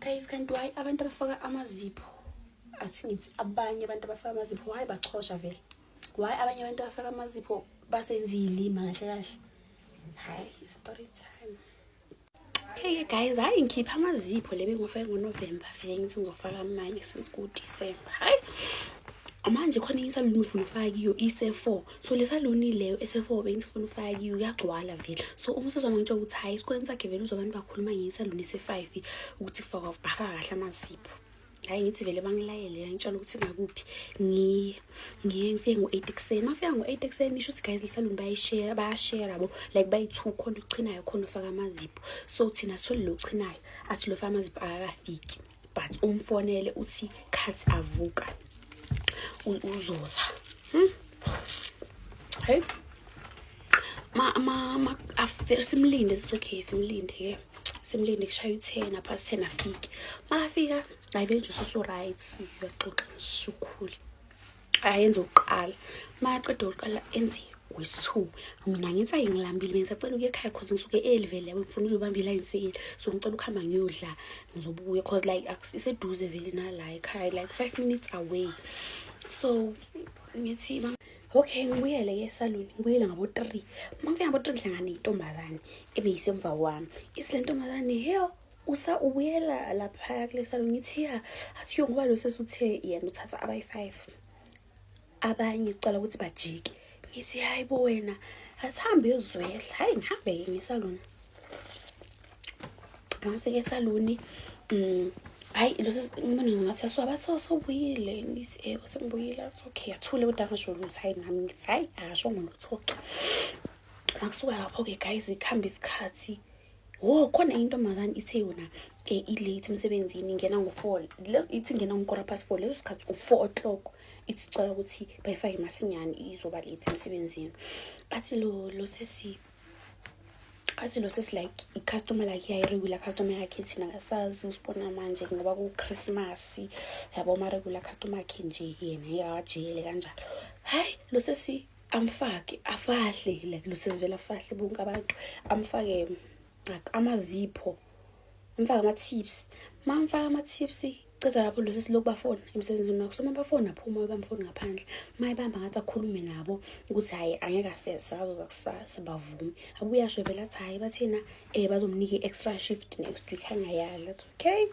guys kanti why abantu abafaka amazipho athi ngithi abanye abantu abafaka amazipho why bachosha vele why abanye abantu abafaka amazipho basenza iy'lima kahle kahle hayi story time hey guys hayi ngikhipha amazipho le bengiwafake ngonovemba vele ngithi ngizofaka amanye since kudisemba hayi manje khona insalulumi ngifuna ufake kiyo ise-four so le saloni leyo ese-four bengi sifuna ufake uyagcwala vele so uma usezwama ngitsho ukuthi hhayi esikoleni sakhe vele uzobantu bakhuluma ngesaloni ese-five ukuthi kufakwa afaka kahle amazipho hhayi ngithi vele bangilayele yangitshela ukuthi ngakuphi ngiye ngiye ngifike ngo-eight ekuseni mafika ngo-eight ekuseni isho ukuthi guys lisaluni bayishera bayashera yabo like bayi-two khona ochinayo khona ufaka amazipho so thina sithole lo ochinayo athi lo faka amazipho akakafiki but umfonele uthi khathi avuka uzoza hmm? hey ma ma ma after simlinde it's okay simlinde ke simlinde kushaya uthena past ten afike makafika ayibe nje ususu right uyaxoxa nje ukhule ayenze ukuqala maqeda ukuqala enze wesu mina ngenza ngilambile mina sacela ukuya ekhaya cause ngisuke early vele yabo ngifuna ukuyobamba iline sale so ngicela ukuhamba ngiyodla ngizobuya cause like iseduze vele nala ekhaya like five minutes away so ngithi okay ngibuyele ke esaluni ngibuyele ngabo-three uma ngifika ngabo-three ngihlangane intombazane ebeyisemva kwami isilento mazane heyo usa ubuyela laphaya kule salon ngithi ya athi yo ngoba lo sesuthe yena uthatha abayi-five abanye kucala ukuthi bajike ngithi hayi bo wena asihambe uyozwela hhayi ngihambe-ke ngesaloni angifike esaloni um mm, hayi losesibona ngathi asiwabathi sobuyile ngithi ebo eh, sengibuyile athi okay athule kodwa angasho lutho hayi nami ngithi hhayi akashongo lutho-ke makusuka lapho-ke guys kuhambe isikhathi wo khona into makani ithe yona um eh, ilate emsebenzini ingena ngo-four ithi ingena ngokora past four leso sikhathi u-four o'clock ithi sicela ukuthi bayifake masinyane izoba late emsebenzini athi lo lo sesi athi lo sesi like i-customer like yayi-regular customer yakhe thina kasazi usibona manje ngoba kuchrismas yabo ma-regular customer yakhe nje yena yekawajele kanjalo hhayi lo sesi amfake afahle like lusezivela afahle bonke abantu amfake like amazipho amfake ama-tips ma mfake ama-tips ceza lapho lesi siloku bafona emsebenzini wakho so mabafona aphuma bamfoni ngaphandle mayibamba ngathi akhulume nabo ukuthi hhayi angeke asese bazoza kusasa bavume abuyasho vele athi hhayi bathina um eh, bazomnika i-extra shift next week angayali athi okay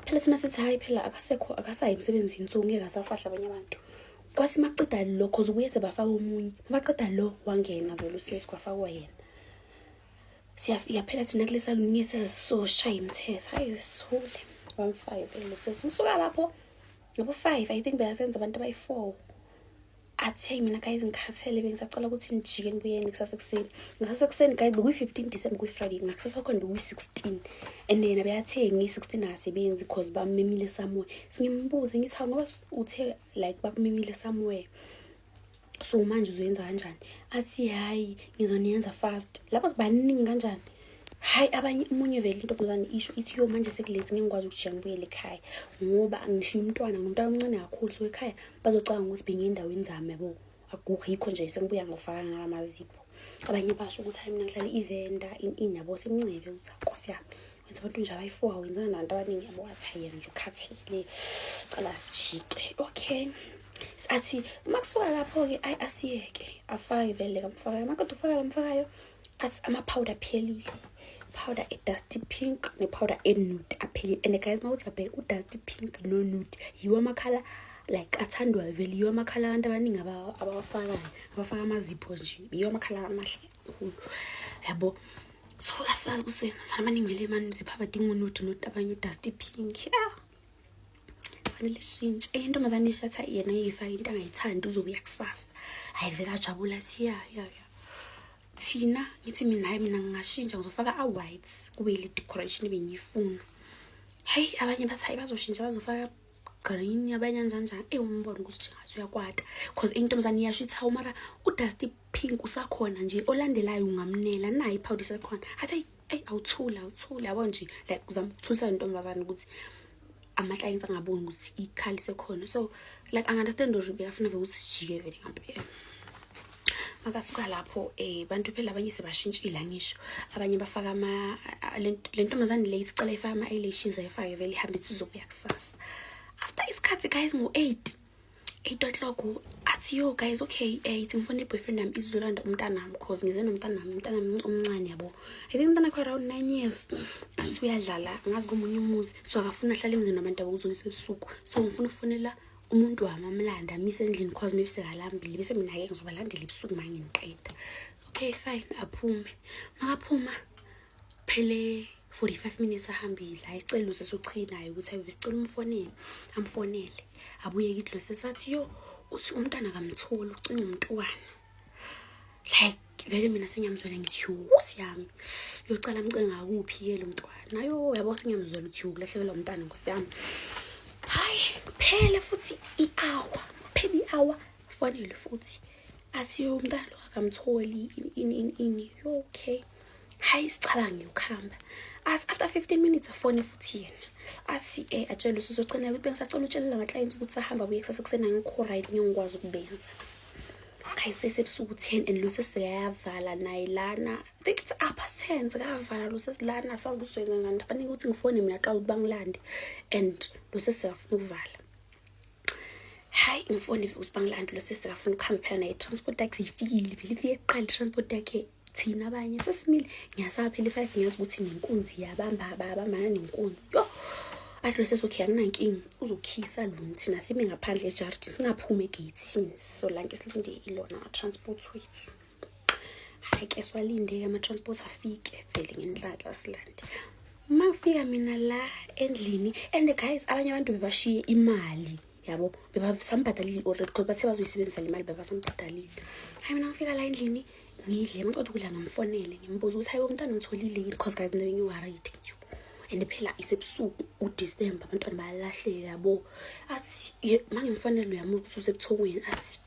phela thina sithi hhayi phela akasekho akasayi emsebenzini so ngeke asafahla abanye abantu kwase maqeda lo cause ubuyethe bafaka omunye mabaqeda lo wangena vele usesi kwafakwa yena siyafika phela thina kule salunye sizoshaya imithetho hayi sithule one five lo sesi usuka lapho ngabo five i think beyasenza abantu abayi-four athe mina guys ngikhathele bengisacela ukuthi nijike nibuyeni kusasa ekuseni ngasasa ekuseni guys bekuyi-15 december kuyi-friday ngakusasa khona bekuyi-16 and yena beyathengi i-16 akasebenzi because bamemile somewhere singimbuze ngithi hawu ngoba uthe like bakumemile somewhere so manje uzoyenza kanjani athi hhayi ngizoniyenza fast lapho sibaningi kanjani hayi abanye umunye vele into mzane isho ithi yo manje sekulezi ngeke ngikwazi ukujika ngibuyele ekhaya ngoba angishiye umntwana ngumntwana omncane kakhulu so ekhaya bazocabanga ukuthi bengiye endaweni zami yabo akukho yikho nje sengibuya ngofaka ngala mazipho abanye basho ukuthi hayi mina ngihlale ivenda in in yabo semncebe ukuthi nkosi yami wenza abantu nje abayi-four wenzana nabantu abaningi yabo wathi hayi yena nje ukhathele cala sijike okay athi uma kusuka lapho-ke ayi asiyeke afake vele kamfakayo makade ufakayo mfakayo athi amapowder aphelile powder edusty pink nepowder enude aphelile and guys uma uthi abheke udusty pink nonude yiwo amakhala like athandwa vele yiwo amakhala abantu abaningi abawafakayo abafaka amazipho nje yiwo amakhala amahle kakhulu yabo so asazi ukuthi abaningi vele mani zipha abadinga unude note abanye udusty pink ah kufanele ishintshe enye intombazane isho athi yena uyifake into angayithandi uzobuya kusasa hayi vele ajabula athi ya ya ya thina ngithi mina hayi mina ngingashintsha ngizofaka a-white kube ile decoration ebengiyifuna heyi abanye bathi hayi bazoshintsha bazofaka green abanye anjanjani eyi umbona ukuthi njengathi uyakwata because intombazane iyasho ithi hawu mara udusty pink usakhona nje olandelayo ungamnela nayo iphawudi isekhona athi eyi awuthule awuthule yabo nje like uzama ukuthulisa lentombazane ukuthi ama-clients angaboni ukuthi ikhali sekhona so like angunderstand or bekafuna vele ukuthi sijike vele ngampela makasuka lapho um bantu phela abanye sebashintshile angisho abanye bafaka le ntombazane le isicela ifake ama-eyelashes ayifake vele ihambe ithi izokuya kusasa after isikhathi guys ngo-eight eight o'clock athi yo guys okay eh ithi ngifuna i-boyfriend yami izolanda umntanami cause ngize nomntanami umntanami omncane yabo i think umntana kho around nine years asuyadlala ngazi komunye umuzi so akafuna ahlale emzini wabantu abakuzoyisa ebusuku so ngifuna ukufonela umuntu wami amlanda amise endlini cause maybe sekalambile bese mina-ke ngizobalandela ebusuku ma ngingiqeda okay fine aphume makaphuma phele 45 minutes ahambile ayicela uze sochinayo ukuthi ayibe sicela umfonele amfonele abuyeke idlo sesathi yo uthi umntana kamtholi ucinga umntwana like vele mina senyamzwela ngithi yho siyami yocala mcinga kuphi ke lo mntwana yo yabo senyamzwela ukuthi ukulahlekelwa umntana nkosi yami hayi phele futhi i-hour phele i-hour fonele futhi athi yo umntana lo akamtholi ini ini ini yo okay hayi sicabange ukuhamba athi after 15 minutes afone futhi yena athi um eh, atshele usuzogcina ukuthi bengisacela utshelela ama-clients ukuthi ahamba buye kusasa kusena ngikho right ngeke ngikwazi ukubenza khayisese ebusuku 10 and lusi sekayavala naye lana i think it's up past 10 sekayavala lusi silana asazi ukuthi soyenza ngani fanele ukuthi ngifone mina qala ukuthi bangilande and lusi siyafuna ukuvala hayi umfoni ukuthi bangilanda lo sisi bafuna ukuhamba phela naye transport taxi ifikile vele ifike kuqala transport yakhe thina abanye sesimile ngiyasaba phela i-five ngiyazi ukuthi nenkunzi yabamba babambana nenkunzi yo athi lo sesokhi anginankinga uzokhisa lona thina sime ngaphandle ejardini singaphumi egeyithini so lanke silinde ilona transport wethu hayi ke swalindeke ama-transport afike vele ngenhlanhla silande uma kufika mina la endlini and guys abanye abantu bebashiye imali yabo bebasamubhadalile already because bathe bazoyisebenzisa le mali bebasamubhadalile hayi mina ngifika la endlini ngidle maqeda ukudla ngamfonele ngimbuza ukuthi hayi umntana umtholile yini because guys nto ngiwarayide nje and phela isebusuku udecember abantwana bayalahleka yabo athi mangimfonele uyamubusa usebuthongweni athi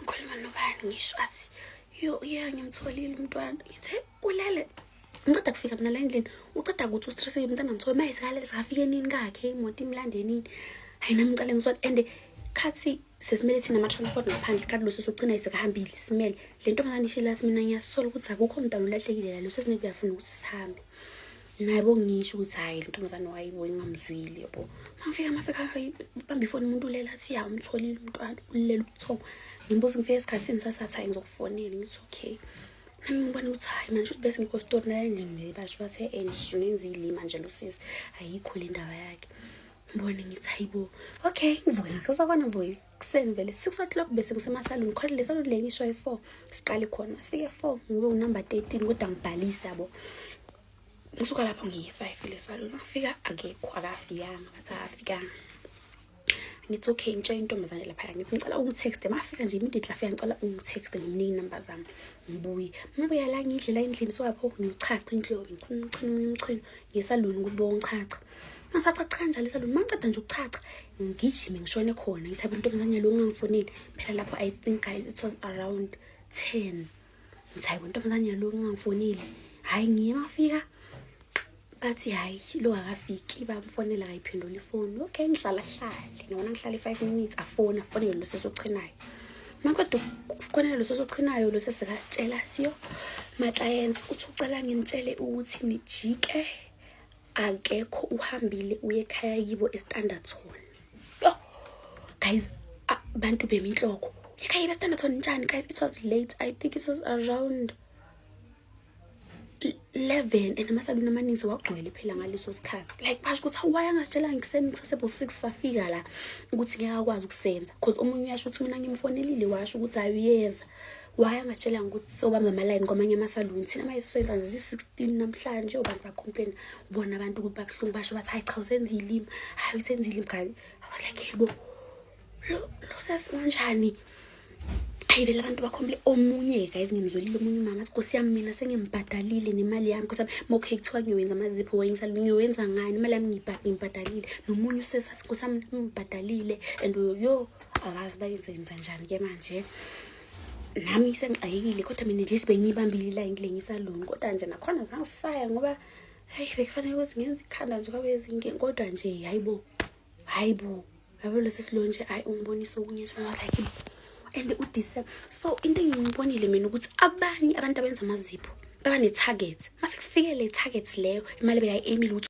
ngikhuluma nobani ngisho athi yo ye ngimtholile umntwana ngithe ulele ngiceda kufika mina la endlini uceda ukuthi ustress yomntana mthole uma esikhalele sikafike nini kakhe imoto imlande nini hayi nami ngicale ngisona and khathi sesimele thina ama-transport ngaphandle kanti loso sogcina isekahambile simele le ntombazane ishile lathi mina ngiyasola ukuthi akukho mntana ulahlekile la loso esinebi yafuna ukuthi sihambe nabo ngisho ukuthi hhayi lo ntombazane wayibo ingamzwile yabo mangifika masekabamba ifoni umuntu ulela athi ya umtholile umntwana ulela ubuthongo ngimbuza ngifika esikhathini sasathi hhayi ngizokufonela ngithi okay nami ngibona ukuthi hhayi manje ukuthi bese ngikho sitori nalandini basho bathe and nenzile manje lo sisi ayikho le ndaba yakhe ngibone ngithi hayibo okay ngivuke ngakhe uzakwana mvuke kuseni vele six o'clock bese ngisemasaluni khona le saluni le ngisho e-four siqale khona masifike e-four ngibe unumber thirteen kodwa ngibhalise yabo ngisuka lapho ngiyi-five le saluni ngifika akekho akafikanga bathi akafikanga ngithi okay ngitshe intombazane laphaya ngithi ngicela ungithexte mafika nje immediately afika ngicela ungithexte ngimnike inamba zami ngibuye ngibuya la ngidlela endlini so lapho ngiyochacha indlovu ngichuna umchunu umchunu ngisaluni ukuthi bongichacha ngasachachanja lesa lona mangiceda nje ukuchacha ngigijime ngishone khona ngithi abantu omncane lo ngangifonile phela lapho i think guys it was around 10 ngithi hayi abantu omncane lo ngangifonile hayi ngiye mafika bathi hayi lo akafiki bamfonela kayiphendula ifoni okay ngihlala hlale ngibona ngihlala i-5 minutes afona afonele lo sesochinayo makwade ukufonela lo sesochinayo lo sesikatshela siyo ma-clients uthi ucela ngimtshele ukuthi nijike akekho uhambile uye ekhaya yibo estanderton yo guys abantu beminhloko ekhaya yibo estanderton njani guys it was late i think it was around 11 and amasaluni amaninzi wagcwele phela ngaleso sikhathi like basho ukuthi awuwaye angatshela ngikuseni ngisasebo 6 safika la ukuthi ngeke akwazi ukusenza because omunye uyasho ukuthi mina ngimfonelile washo ukuthi ayuyeza why angatshelanga ukuthi sobamba amalayini kwamanye amasaluni thina manje sisoyenza nje zi-16 namhlanje obantu bacomplaina bona abantu ukuthi babuhlungu basho bathi hayi cha usenza ilimi hayi usenza ilimi kanye i was like yebo lo sesi unjani hayi vele abantu bakhombile omunye guys ngimzwelile omunye umama athi nkosi yami mina sengimbhadalile nemali yami nkosi yami mokhe kuthiwa ngiyowenza amazipho wenza ngiyowenza ngani imali yami ngiyibhadalile nomunye usesathi nkosi yami ngimbhadalile and yo abazi bayenzenza njani ke manje nami sengixakekile kodwa mina ndlisi bengiyibambile la ngile ngisaloni kodwa nje nakhona zangisaya ngoba hayi bekufanele ukuthi ngenza ikhanda nje kwabe ezingeni kodwa nje hayi bo hayi bo yabo lesi silo nje hayi ungibonisa okunye nje like and udise so into engiyibonile mina ukuthi abanye abantu abenza amazipho baba ne-target mase kufike le-target leyo imali bekayi-emile ukuthi